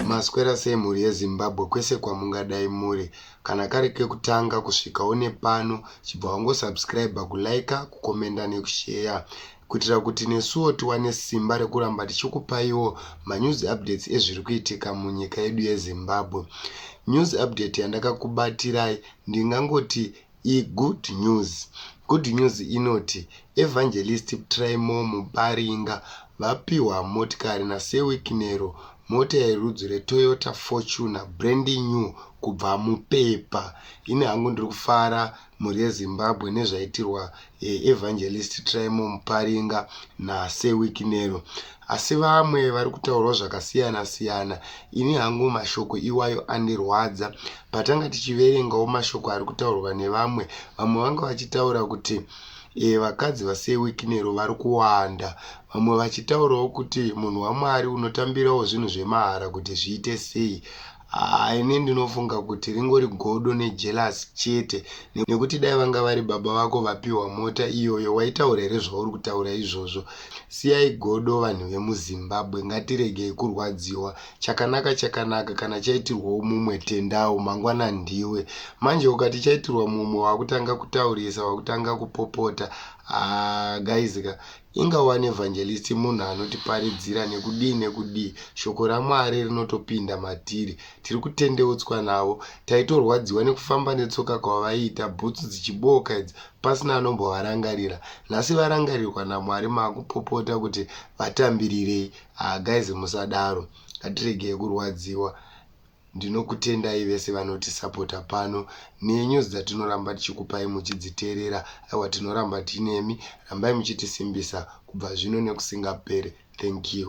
maswera sei mhuri yezimbabwe kwese kwamungadai muri kana kari kekutanga kusvika une pano chibva wangosubscribe kuliker kukomenda nekusheya kuitira kuti nesuwo tiwane simba rekuramba tichikupaiwo manews updates ezviri kuitika munyika yedu yezimbabwe news update yandakakubatirai ndingangoti igood news good news inoti evangelist trimo mubaringa vapiwa motikari nasewikinero mota yerudzi retoyota fortuner brandi new kubva mupepa ini hangu ndiri kufara mhuri yeZimbabwe nezvaitirwa eh, Evangelist Trymore Muparinga naSir Wikinero. Asi vamwe vari kutaurwa zvakasiyana siyana. Ini hangu mashoko iwayo andirwadza. Patanga tichiverengawo mashoko ari kutaurwa nevamwe, vamwe vanga vachitaura kuti e, vakadzi vaSir Wikinero vari kuwanda. Vamwe vachitaurawo kuti munhu waMwari unotambirawo zvinhu zvemahara kuti zviite sei. Haa ini ndinofunga kuti ringori godo nejealous chete nekuti dai vanga vari baba vako vapiwa mota iyoyo waitaura here zvauri kutaura izvozvo. Siyai godo vanhu vemuZimbabwe ngatiregei kurwadziwa. Chakanaka chakanaka kana chaitirwawo mumwe tendawo mangwana ndiwe. Manje ukati chaitirwa mumwe wakutanga kutaurisa wakutanga kupopota haa guys ka Inga wani evangelist munhu anotiparidzira nekudii nekudii shoko raMwari rinotopinda matiri. Tiri kutendeutswa navo. Taitorwadziwa nekufamba netsoka kwavaiita bhutsu dzichibooka idzi pasina anombovarangarira. Nhasi varangarirwa naMwari makupopota kuti vatambirirei. Haa guys musadaro. Ngatiregei kurwadziwa Ndinokutendai vese vanoti sapota pano nenews dzatinoramba tichikupai muchidziteerera aiwa tinoramba tinemi rambai muchitisimbisa kubva zvino nekusingapere thank you.